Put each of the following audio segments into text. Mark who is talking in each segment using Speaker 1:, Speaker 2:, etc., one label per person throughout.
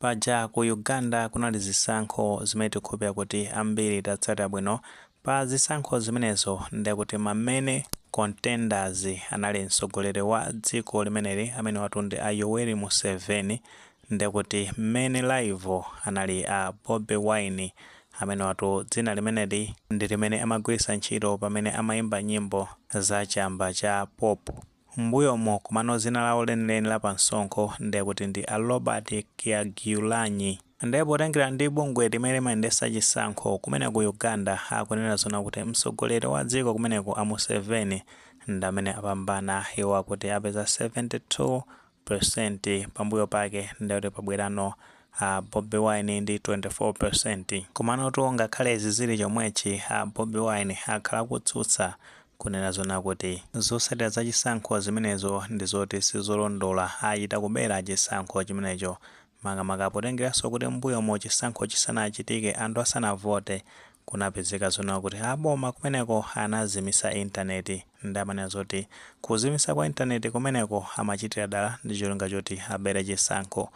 Speaker 1: Paja ku Uganda kunali zisankho zimene tikhulupirira kuti ambiri tatsatira bwino, pa zisankho zimenezo ndiye kuti ma main contenders anali mtsogoleri wa dziko limeneli amenewatu ndi a Yoweri Museveni, ndiye kuti main rival anali a Bobi Wine, amenewatu dzina limeneli ndi limene amagwiritsa ntchito pamene amaimba nyimbo za chamba cha pop. Mmbuyomo komano dzina lawo lenileni la pa msonkho ndiye kuti ndi a Robert Kyagulanyi. Ndiye potengera ndi bungwe limene limayendetsa chisankho kumene ku Uganda akunena zonena kuti mtsogoleri wa dziko kumeneko a Museveni ndi amene apambana iwo akuti apeza 72 percent pambuyo pake ndekuti pabwerano a Bobi Wine ndi 24 percent. Komanotu ngakhale izi zili chomwechi a Bobi Wine akhala akutsutsa kunena zonena kuti zotsatira za chisankho zimenezo ndizoti sizolondola achita kubera chisankho chimenecho makamaka potengeranso kuti mmbuyomo chisankho chisanachitike, anthu asanavote, kunapezeka zonena kuti a boma kumeneko anazimisa intaneti. Nde amanena zoti kuzimisa kwa intaneti kumeneko amachitira dala ndi cholinga choti abere chisankho.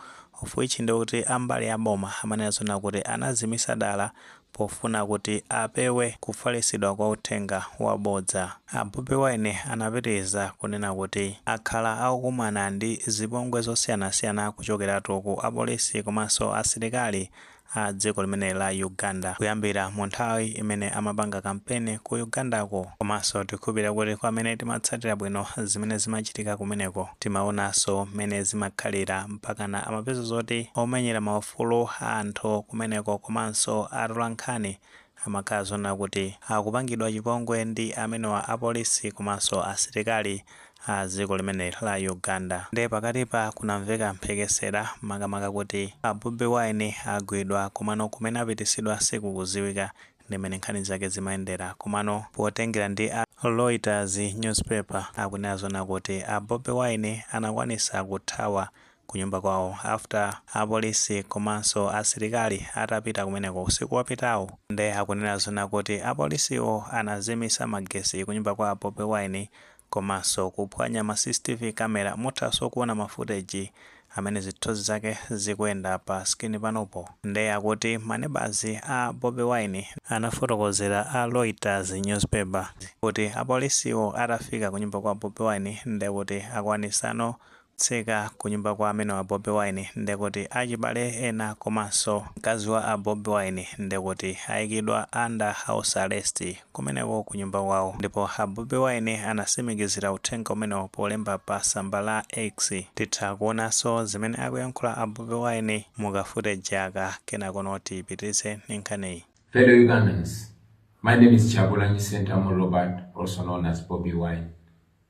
Speaker 1: Of which ndekuti a mbali ya boma amanena zonena kuti anazimisa dala Pofuna kuti apewe kufalitsidwa kwa uthenga wabodza, a Bobi Wine anapitiriza kunena kuti akhala akukumana ndi zipongwe zosiyanasiyana kuchokeratu ku apolisi komanso asilikali a dziko limeneli la Uganda kuyambira mu nthawi imene amapanga kampeni ku Ugandako. Komanso tikhulupirira kuti kwa amene timatsatira bwino zimene zimachitika kumeneko, timaonanso mmene zimakhalira mpakana amapeza zoti omenyera ma ufulu a anthu kumeneko komanso atolankhani amakhala zonena kuti akupangidwa chipongwe ndi amenewa apolisi komanso asilikali a dziko limeneli la Uganda nde pakatipa kunamveka mphekesera makamaka kuti a Bobi Wine agwidwa komano kumene apititsidwa sikukudziwika ndi mmene nkhani zake zimayendera komano potengera ndi a Reuters newspaper akunena zonena kuti a Bobi Wine anakwanitsa kuthawa kunyumba kwawo after apolisi komanso asilikali atapita kumeneko usiku wapitawu nde akunena zonena kuti apolisiwo anazimisa magesi kunyumba kwa Bobi Wine komanso kuphwanya ma CCTV camera muthanso kuona ma footage amene zithunzi zake zikuyenda pa screen panopo nde akuti ma neighbours a Bobi Wine anafotokozera a Reuters newspaper kuti apolisiwo atafika kunyumba kwa Bobi Wine ndekuti akwanitsano Tseka kunyumba kwa amene wa Bobi Wine ndekuti achibale ena komanso mkazi wa a Bobi Wine ndekuti ayikidwa under house arrest kumeneko kunyumba kwawo ndipo a Bobi Wine anasimikizira uthenga umenewo polemba pa tsamba la X titha kuonanso zimene akuyankhula a Bobi Wine mukafute jaka kenakono tipitilize ndi nkhaniyi. Fellow Ugandans,
Speaker 2: my name is Kyagulanyi Ssentamu Robert, also known as Bobi Wine.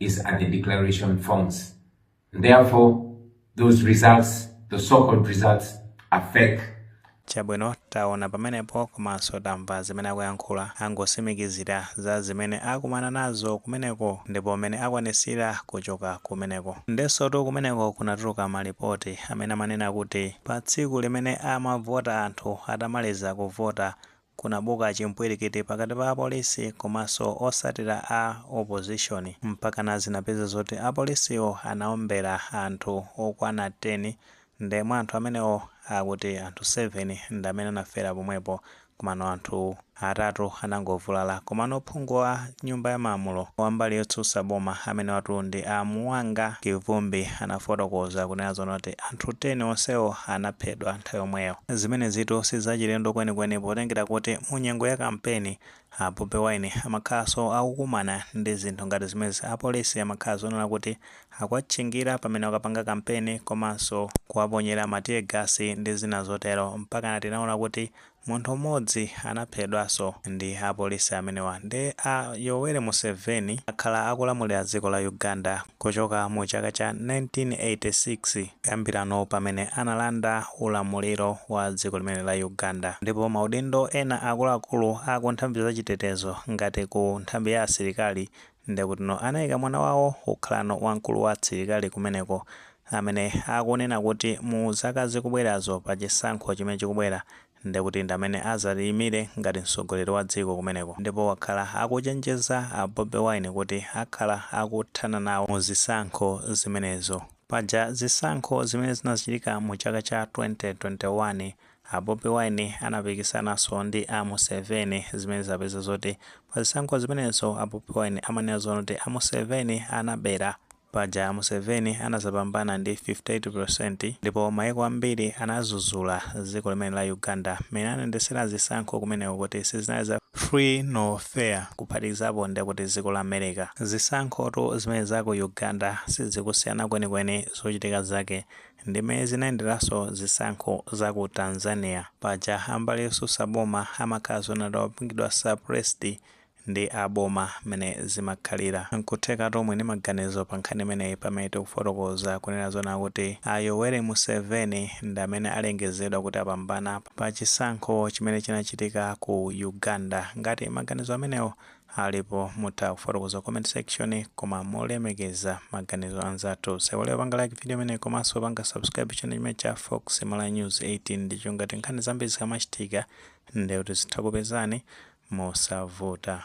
Speaker 2: is at the declaration forms. And therefore, those results, the so-called results, are fake. chabwino
Speaker 1: taona pamenepo komanso tamva zimene akuyankhula angosimikizira za zimene akumana nazo kumeneko ndipo mmene akwanisira kuchoka kumeneko ndensotu kumeneko kunatuluka malipoti amene amanena kuti pa tsiku limene amavota anthu atamaliza kuvota Kunabuka chimpwirikiti pakati pa apolisi komanso osatira a opposition mpakana zinapeza zoti apolisiwo anaombera anthu okwana 10 nde mwa anthu amenewo akuti anthu 7 ndamene anafera pomwepo komano anthu atatu anangovulala komano phungu wa nyumba ya malamulo wa mbali yotsutsa boma amenewatu ndi a Muwanga Kivumbi anafotokoza kunena zonoti anthu 10 onsewo anaphedwa nthawi yomweyo. Zimenezitu si zachilendo kwenikweni potengera kuti mu nyengo ya kampeni, a Bobi Wine amakhalanso akukumana ndi zinthu ngati zimenezi. Apolisi amakhala zonena kuti akuwatchingira pamene akapanga kampeni komanso kuwaponyera ma tear gas ndi zina zotero. Mpakana tinaona kuti Munthu mmodzi anaphedwanso ndi apolisi amenewa nde a Yoweri Museveni akhala akulamulira dziko la Uganda kuchoka mu chaka cha 1986 kuyambirano pamene analanda ulamuliro wa dziko limene la Uganda ndipo maudindo ena akuluakulu a ku nthambi za chitetezo ngati ku nthambi ya asilikali Ndekutino anaika mwana wawo kukhalano wamkulu wa asilikali kumeneko amene akunena kuti mu zaka zikubwerazo pa chisankho chimene chikubwera ndekuti ndamene azati ayimire ngati mtsogoleri wa dziko kumeneko ndipo wakhala akuchenjeza a Bobi Wine kuti akhala akuthana nawo mu zisankho zimenezo. Paja zisankho zimene zinachitika mu chaka cha 2021 A Bobi Wine anapikisananso ndi a Museveni zimene zapeza zoti pa zisankho zimenezo a Bobi Wine amanena zonena kuti a Museveni anabera. Paja a Museveni anazapambana ndi 58% ndipo maiko ambiri anazuzula dziko limene la Uganda mmene anayendesera zisankho kumeneko kuti sizinali za free nor fair kuphatikizapo ndekuti ziko la America. Zisankhotu zimene za ku Uganda sizikusiyana kwenikweni zochitika zake Ndimene zinayenderanso zisankho za ku Tanzania. Paja a mbali yotsutsa boma amakhala zona atapangidwa suppressed ndi a boma mmene zimakhalira. Nkuthekatu muli ndi maganizo pa nkhani imeneyi pamene tikufotokoza kunena zona kuti a Yoweri Museveni ndi amene alengezedwa kuti apambana pa chisankho chimene chinachitika ku Uganda. Ngati maganizo amenewo alipo mutha kufotokoza mu comment section koma molemekeza maganizo anzathu osaiwala kupanga like video imeneyi komanso kupanga subscribe channel chimenechi cha fox malawi news 18 ndipo ngati nkhani zambiri zikamachitika ndekuti zizitha kukupezani mosavuta